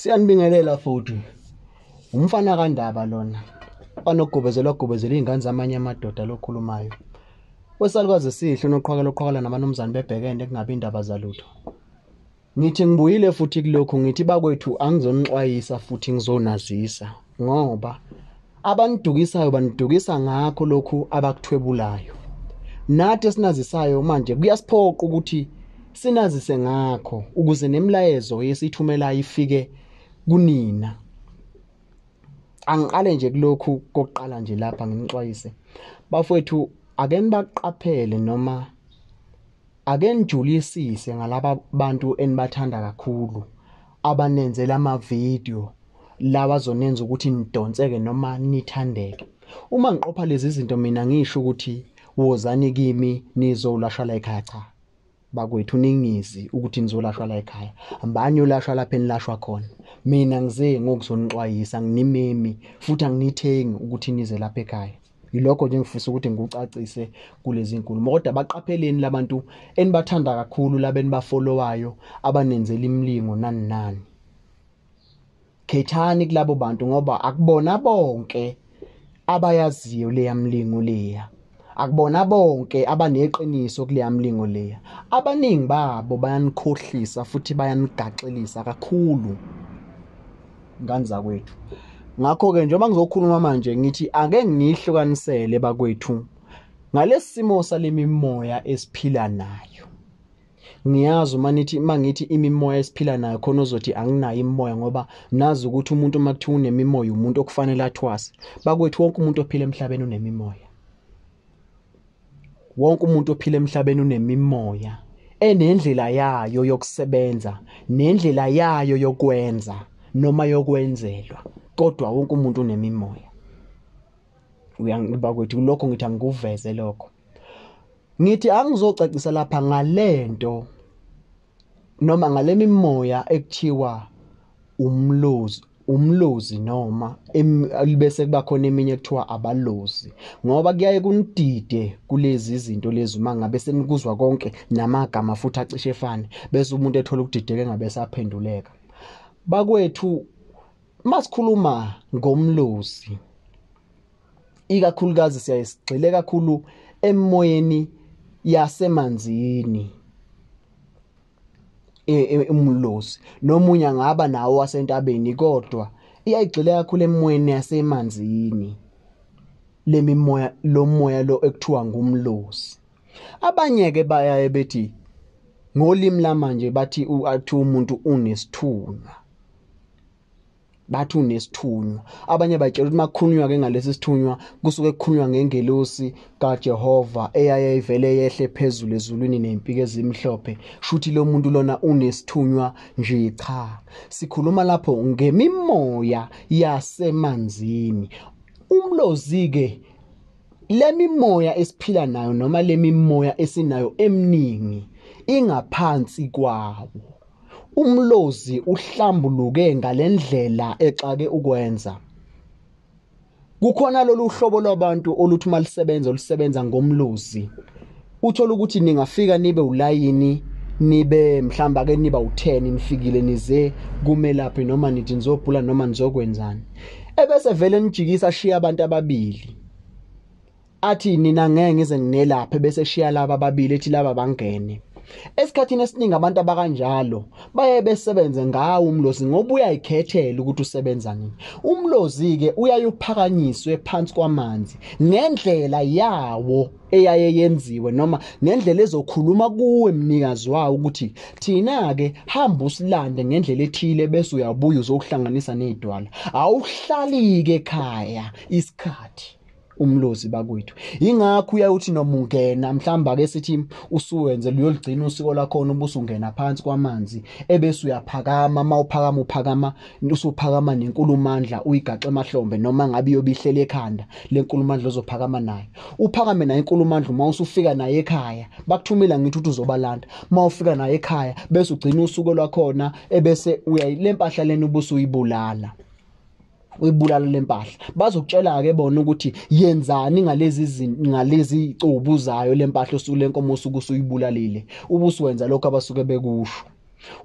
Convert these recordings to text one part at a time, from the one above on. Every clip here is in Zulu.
Siyanibingelela futhi. Umfana kaNdaba lona. Banogobezela ogobezela izingane zamanye amadoda lokhulumayo. Wesalukazi sihle unoqhwakela oqhwakela namanumzane bebhekene kungabi indaba zalutho. Ngithi ngibuyile futhi kulokhu ngithi bakwethu angizonixwayisa futhi ngizonazisa. ngoba abanidukisayo banidukisa ngakho lokhu abakuthwebulayo nathi esinazisayo manje kuyasiphoqa ukuthi sinazise ngakho ukuze nemilayezo yesithumela ifike kunina angiqale nje kulokhu kokuqala nje lapha nginixwayise bafowethu ake nibaqaphele noma Ake nijulisise ngalaba bantu enibathanda kakhulu abanenzela ama-video lawa azonenza ukuthi nidonseke noma nithandeke. Uma ngiqopha lezi zinto mina ngisho ukuthi wozani kimi nizolashwa la ekhaya cha. Bakwethu ningizi ukuthi nizolashwa la ekhaya. Mbani olashwa lapha enilashwa khona. Mina ngize ngokuzonixwayisa nginimemi futhi anginithengi ukuthi nize lapha ekhaya. yilokho nje ngifisa ukuthi ngikucacise kulezi nkulumo kodwa baqapheleni labantu enibathanda kakhulu labeni bafollowayo abanenzela imlingo nani nani khethani kulabo bantu ngoba akubona bonke abayaziyo leya mlingo leya akubona bonke abaneqiniso kuleya mlingo leya abaningi babo bayanikhohlisa futhi bayanigaxelisa kakhulu ngani zakwethu ngakho-ke njengoba ngizokhuluma manje ngithi ake ngiyihlukanisele bakwethu ngalesi simo sale mimoya esiphila nayo ngiyazi uma nithi uma ngithi imimoya esiphila nayo khona ozothi anginayo imimoya ngoba nazi ukuthi umuntu uma kuthiwa unemimoya umuntu okufanele athwase bakwethu wonke umuntu ophila emhlabeni unemimoya Wonke umuntu ophila emhlabeni unemimoya enendlela yayo yokusebenza nendlela yayo yokwenza noma yokwenzelwa kodwa wonke umuntu unemimoya uyangiba kwethu lokho ngithi angikuveze lokho ngithi angizocacisa lapha ngalento noma ngalemimoya ekuthiwa umlozi umlozi noma libese kuba khona eminye kuthiwa abalozi ngoba kuyaye kunidide kulezi zinto lezi uma ngabe senikuzwa konke namagama futhi acishe efane bese umuntu ethola ukudideka engabe saphenduleka bakwethu masikhuluma ngomlozi ikakhulukazi siyaye sigxile kakhulu emoyeni yasemanzini e, e, umlozi nomunye angaba nawo wasentabeni kodwa iyayigxile kakhulu emoyeni yasemanzini lemimoya lomoya lo ekuthiwa ngumlozi abanye ke bayaye bethi ngolimi lamanje bathi umuntu unesithunywa bathi unesithunywa abanye batshela ukuthi makukhulunywa ke ngalesi sithunywa kusuke kukhulunywa ngengelosi kaJehova eyaye ivele yehle phezulu ezulwini nempike ezimhlophe shuthi lo muntu lona unesithunywa nje cha sikhuluma lapho ngemimoya yasemanzini umlozi ke lemimoya esiphila nayo noma lemimoya esinayo eminingi ingaphansi kwawo Umlozi uhlambuluke ngalendlela exake ukwenza. Kukhona lolu hlobo lwabantu oluthi uma lisebenza olusebenza ngomlozi. Uthola ukuthi ningafika nibe ulayini nibe mhlawumbe ake niba u-10 nifikile nize kumelaphi noma nithi nizobhula noma nizokwenzani. Ebese vele nijikisa ashiye abantu ababili. athi nina ngeke ngize nginelaphe bese shiya laba babili ethi laba bangene Esikhathini esiningi abantu abakanjalo baye besebenze ngawo umlozi ngoba uyayikhethela ukuthi usebenza nini. Umlozi-ke uyaye uphakanyiswe phansi kwamanzi ngendlela yawo eyaye yenziwe noma ngendlela ezokhuluma kuwe mnikazi wawo ukuthi thina-ke hamba usilande ngendlela ethile bese uyabuya uzokuhlanganisa ney'dwala. Awuhlali-ke ekhaya isikhathi. umlozi bakwethu ingakho uyayothi noma ungena mhlawumbe ake sithi usuwenze luyoligcina usiko lakhona ubusungena phansi kwamanzi ebese uyaphakama uma uphakama uphakama usuphakama nenkulumandla uyigaxe emahlombe noma ngabe iyobihlele ekhanda lenkulumandla ozophakama nayo uphakame nayo inkulumandla uma usufika naye ekhaya bakuthumela ngithi uthi uzobalanda uma ufika naye ekhaya bese ugcina usuku lwakhona ebese uyayilempahla lena ubusuyibulala uyibulala lempahla bazokutshela ke bona ukuthi yenzani ngalezi ngalezi icubu zayo lempahla osuku lenkomo osuku usuyibulalile ubusiwenza lokho abasuke bekusho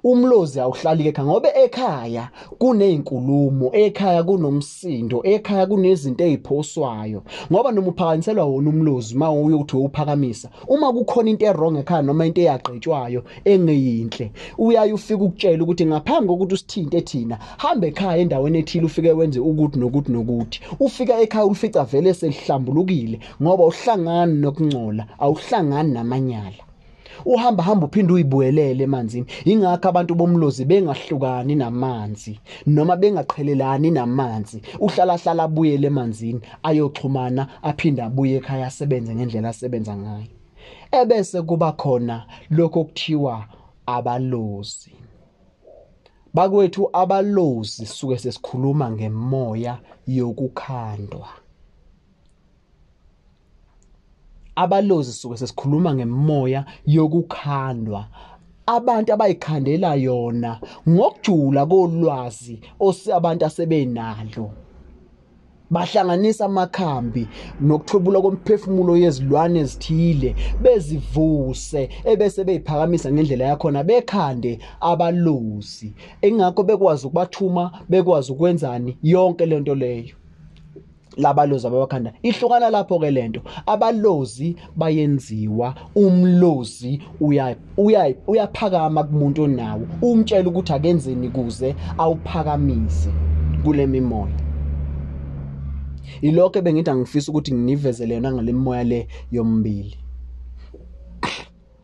umlozi awuhlali ke ngoba ekhaya kunezinkulumo ekhaya kunomsindo ekhaya kunezinto eziphoswayo ngoba noma uphakaniselwa wona umlozi uma uyothi uphakamisa uma kukhona into errong ekhaya noma into eyagqetshwayo engeyinhle uyaye ufike ukutshela ukuthi ngaphambi kokuthi usithinte thina hamba ekhaya endaweni ethile ufike wenze ukuthi nokuthi nokuthi ufika ekhaya ulifica vele selihlambulukile ngoba uhlangani nokungcola awuhlangani namanyala uhamba hamba uphinde uyibuyelele emanzini ingakho abantu bomlozi bengahlukani namanzi noma bengaqhelelani namanzi uhlala hlala abuyele emanzini ayoxhumana aphinde abuye ekhaya asebenze ngendlela asebenza ngayo ebese kuba khona lokho kuthiwa abalozi bakwethu abalozi suke sesikhuluma ngemoya yokukhandwa abalozi suke sesikhuluma ngemoya yokukhandwa abantu abayikhandela yona ngokujula kolwazi abantu asebenalo bahlanganisa amakhambi nokuthwebula komphefumulo yezilwane ezithile bezivuse ebese beyiphakamisa ngendlela yakhona bekhande abalozi ingakho bekwazi ukubathuma bekwazi ukwenzani yonke lento leyo labalozi ababakhanda ihlukana lapho ke lento abalozi bayenziwa umlozi uyaphakama kumuntu onawo umtshela ukuthi akenzeni kuze awuphakamise kule mimoya ilokho bengithi angifisa ukuthi nginivezele yona ngale mimoya le yombili